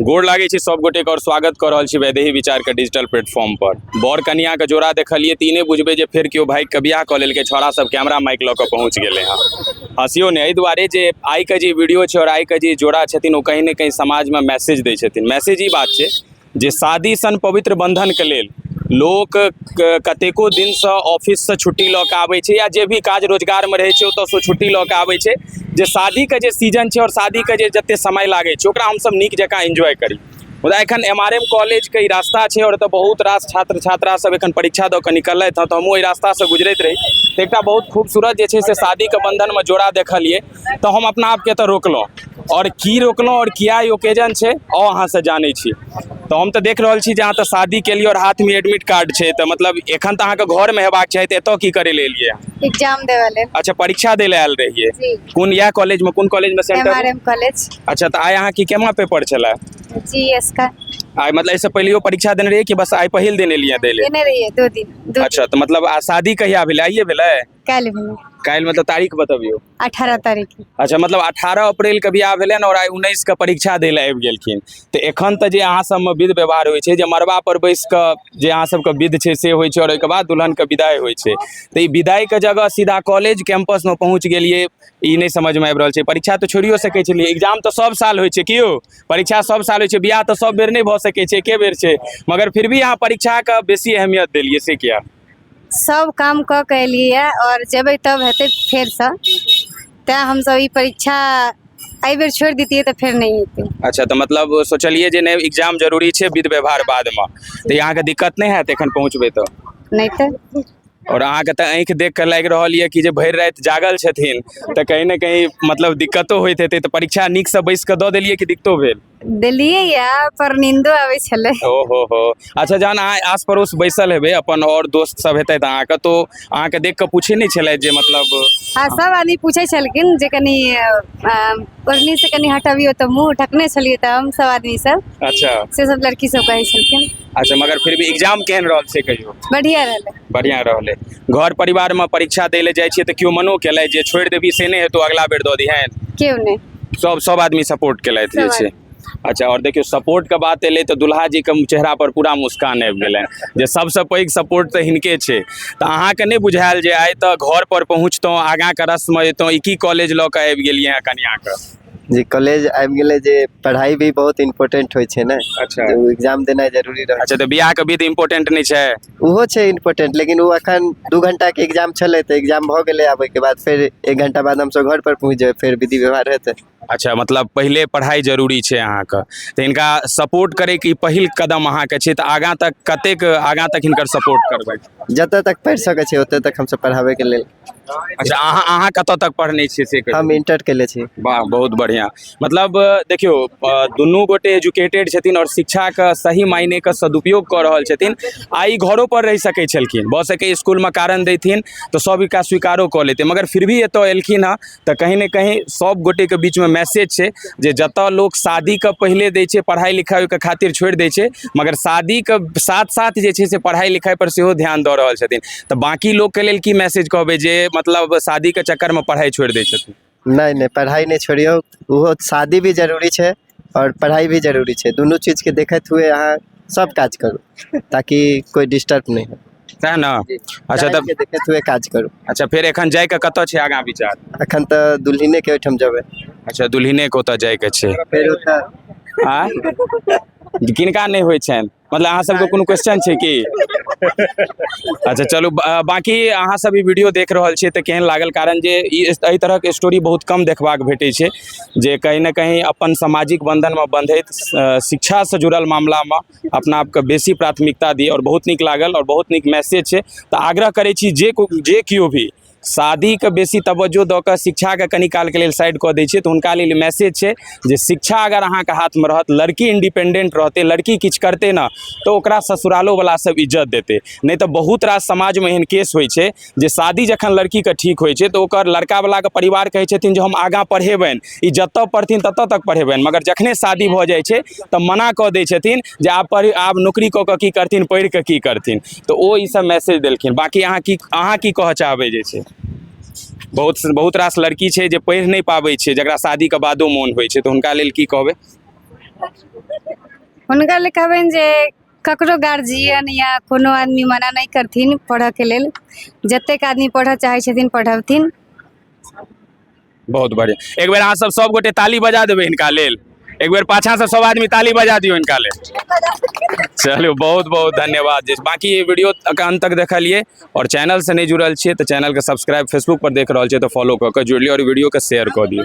गोड़ लागै छी सब गोटे के और स्वागत क रहल छी वैदेही विचार के डिजिटल प्लेटफॉर्म पर बर कन्या के जोड़ा देखलिए त ई नै बुझबे जे फेर केओ भाई के बियाह क लेलकै छोड़ा सब कैमरा माइक ल क पहुंच गेले हां हंसियो नै एहि दुआरे जे आइ के जे वीडियो छै और आइ के जे जोड़ा छथिन ओ कहीं न कहीं समाज में मैसेज दै छथिन मैसेज ई बात छै जे शादी सन पवित्र बन्धनके लेल लोक कतेको दिनसँ ऑफिससँ छुट्टी लऽ कऽ आबै छै या जे भी काज रोजगारमे रहै छै ओतऽसँ छुट्टी लऽ कऽ आबै छै जे शादीके जे सीजन छै आओर शादीके जे जतेक समय लागै छै ओकरा हमसब नीक जकाँ एन्जॉय करी मुदा एखन एम आर एम कॉलेजके ई रास्ता छै आओर एतऽ बहुत रास छात्र छात्रा सब एखन परीक्षा दऽ कऽ निकललथि हँ तऽ हमहूँ एहि रास्तासँ गुजरैत रही तऽ एकटा बहुत खूबसूरत जे छै से शादीके बन्धनमे जोड़ा देखलिए तऽ हम अपना आपके एतऽ रोकलहुँ आओर की रोकलहुँ आओर किया ई ओकेजन छै ओ अहाँसँ जानै छी तऽ हम तऽ देख रहल छी जे अहाँ तऽ शादी केलियै आओर हाथमे एडमिट कार्ड छै तऽ मतलब एखन तऽ अहाँके घरमे हेबाक चाही तऽ एतऽ की करै लए एलियै अहाँ? एग्जाम देवे ले अच्छा परीक्षा दै लए आयल रहियै जी कोन इएह कॉलेजमे कोन कॉलेजमे M R centre M college अच्छा तऽ आइ अहाँके केमा पेपर छलै जी एस का आइ मतलब एहिसँ पहिलेयो परीक्षा देने रहियै कि बस आइ पहिल दिन एलियै दै लए देने रहिए दो दिन दो अच्छा तऽ मतलब आ शादी कहिया भेलै आइए भेलै काल्हि भेलै काल्हि मतलब तारीख बतबियौ अठारह तारीख अच्छा मतलब अठारह अप्रैल के बियाह भेलनि और आइ उन्नैस के परीक्षा दै लए आबि गेलखिन तऽ एखन तऽ जे अहाँ सबमे विध व्यवहार होइ छै जे मड़बा पर बैस कऽ जे अहाँ सबके विध छै से होइ छै और ओहिके बाद दुल्हन के विदाई होइ छै तऽ ई विदाई के जगह सीधा कॉलेज कैंपस में पहुंच गेलियै ई नहि समझ में आबि रहल छै परीक्षा तऽ छोड़ियो सकै छलियै एग्जाम तऽ सब साल होइ छै कि यौ परीक्षा सब साल होइ छै बियाह तऽ सब बेर नहि भऽ सकै छै एके बेर छै मगर फिर भी अहाँ परीक्षा के बेसी अहमियत देलियै से किया सभ काम कऽ कऽ एलियैए आओर जेबै तब हेतै फेरसँ तैँ हमसभ ई परीक्षा एहिबेर छोड़ि दैतियै तऽ फेर नहि हेतै अच्छा तऽ मतलब सोचलियै जे नहि एग्जाम जरूरी छै विध व्यवहार बादमे तऽ ई अहाँके दिक्कत नहि हैत एखन पहुँचबै तऽ नहि तऽ आओर अहाँके तऽ आँखि देख कऽ लागि रहल यए कि जे भरि राति जागल छथिन तऽ कहीं ने कहीं मतलब दिक्कतो होइत हेतै तऽ परीक्षा नीकसँ बैसि कऽ दऽ देलियै कि दिक्कतो भेल देलियै या पर नींदो आबै छलै ओ हो हो अच्छा जहन अहाँ आस पड़ोस बैसल हेबै अपन और दोस्त सब हेतै तऽ अहाँके तो अहाँके देख कऽ पूछे नहि छलै जे मतलब हाँ सब आदमी पूछे छलखिन जे कनी ओढ़नी से कनी हटबियो तऽ मुंह ढकने छलियै तऽ हम सब आदमी सब अच्छा से सब लड़की सब कहै छलखिन अच्छा मगर फिर भी एग्जाम केहन रहल से कहियो बढ़िया रहलै बढ़िया रहलै घर परिवार में परीक्षा दै ले जाइ छियै तऽ केओ मनो केलै जे छोड़ि देबही से नहि हेतौ अगला बेर दऽ दिहेन केओ नहि सब सब आदमी सपोर्ट केलथि जे सब छै अच्छा आओर देखियौ सपोर्टके बात एलै तऽ दुल्हाजीके चेहरापर पूरा मुस्कान आबि गेलै जे सबसँ पैघ सपोर्ट तऽ हिनके छै तऽ अहाँके नहि बुझायल जे आइ तऽ घरपर पहुँचतहुँ आगाँके रस्ममे अयतहुँ ई की कॉलेज लऽ कऽ आबि गेलियै हँ कनियाँके जी कॉलेज आबि गेलै जे पढ़ाई भी बहुत इम्पोर्टेंट होइ छै ने अच्छा। तऽ एग्जाम देनाइ जरूरी रहै अच्छा तऽ बियाहके विध इम्पोर्टेंट नहि छै ओहो छै इम्पोर्टेन्ट लेकिन ओ एखन दू घण्टाके एक्जाम छलै तऽ एक्जाम भऽ गेलै आब ओहिके बाद फेर एक घण्टा बाद हमसभ घरपर पहुँच जेबै फेर विधि व्यवहार हेतै अच्छा मतलब पहिले पढ़ाइ जरूरी छै अहाँके तऽ हिनका सपोर्ट करैके ई पहिल कदम अहाँके छै तऽ आगाँ तक कतेक आगाँ तक हिनकर सपोर्ट करबै जतऽ तक पढ़ि सकै छै ओतऽ तक हमसभ पढ़ाबैके लेल अच्छा अहाँ अहाँ कतऽ तक पढ़ने छियै से कहियौ। हम इंटर केले छी वाह बहुत बढ़िआँ मतलब अ, देखियौ अ, दुनू गोटे एजुकेटेड छथिन आओर शिक्षाके सही मायनेके सदुपयोग कऽ रहल छथिन आ ई घरो पर रहि सकै छलखिन भऽ सकै इसकुलमे कारण देथिन तऽ सब एकरा स्वीकारो कऽ लेतै मगर फिर भी एतऽ एलखिन हँ तऽ कहीं ने कहीं सब गोटे के बीच में मैसेज छै जे जतऽ लोक शादी के पहिले दै छै पढ़ाई लिखाई के खातिर छोड़ि दै छै मगर शादी के साथ साथ जे छै से पढ़ाई लिखाई पर सेहो ध्यान दऽ रहल छथिन तऽ बाकी लोक के लेल की मैसेज कहबै जे मतलब शादी के चक्कर में पढ़ाई छोड़ि दै छथिन नहि नहि पढ़ाई नहि छोड़ियौ ओहो शादी भी जरूरी छै आओर पढ़ाइ भी जरूरी छै दुनू चीजके देखैत हुए अहाँ सब काज करू ताकि कोइ डिस्टर्ब नहि हो सएह ने अच्छा टाइमके तऽ देखैत हुए काज करू अच्छा फेर एखन जाइके कतऽ छै आगाँ विचार एखन तऽ दुल्हिनेके ओहिठाम जेबै अच्छा दुल्हिनेके ओतऽ जाइके छै फेर ओतऽ आँय किनका नहि होइ छनि मतलब अहाँ सबके कोनो क्वेश्चन छै की अच्छा चलू बा- बाकी अहाँ सब ई वीडियो देख रहल छियै तऽ केहन लागल कारण जे ई एहि तरहक स्टोरी बहुत कम देखबाक भेटै छै जे कहीं ना कहीं अपन सामाजिक बंधनमे बंधैत अ, शिक्षासँ जुड़ल मामलामे अपना आपके बेसी प्राथमिकता दी आओर बहुत नीक लागल आओर बहुत नीक मैसेज छै तऽ आग्रह करै छी जे को- जे केओ भी शादीके बेसी तवज्जो दऽ कऽ शिक्षाके कनि कालके लेल साइड कऽ दै छै तऽ हुनका लेल मैसेज छै जे शिक्षा अगर अहाँके हाथमे रहत लड़की इंडिपेंडेंट रहतै लड़की किछु करतै ने तऽ ओकरा ससुरालोवला सब इज्जत देतै नहि तऽ बहुत रास समाजमे एहन केस होइ छै जे शादी जखन लड़कीके ठीक होइ छै तऽ ओकर लड़कावलाके परिवार कहै छथिन जे हम आगाँ पढ़ेबनि ई जतऽ पढ़थिन ततऽ तक पढ़ेबनि मगर जखने शादी भऽ जाइ छै तऽ मना कऽ दै छथिन जे आब पढ़ि आब नौकरी कऽ कऽ की करथिन पढ़ि कऽ की करथिन तऽ ओ ई सब मैसेज देलखिन बाकी अहाँ की अहाँ की कहऽ चाहबै जे छै बहुत बहुत रास लड़की छै जे पढ़ि नहि पाबै छै जकरा शादीके बादो मोन होइ छै तऽ हुनका लेल की कहबै हुनका लेल कहबनि जे ककरो गार्जियन या कोनो आदमी मना नहि करथिन पढ़यके लेल जतेक आदमी पढ़य चाहै छथिन पढ़बथिन बहुत बढ़िया एक बेर अहाँ सब सब गोटे ताली बजा देबे इनका लेल एक बेर पाछा से सब आदमी ताली बजा दियो इनका लेल चलो बहुत बहुत धन्यवाद जी बाकी ये वीडियो के अंत तक देखलिए और चैनल से नहीं जुड़ल छे तो चैनल के सब्सक्राइब फेसबुक पर देख रहा छे तो फॉलो कर के जुड़ लियो और वीडियो के शेयर कर दियो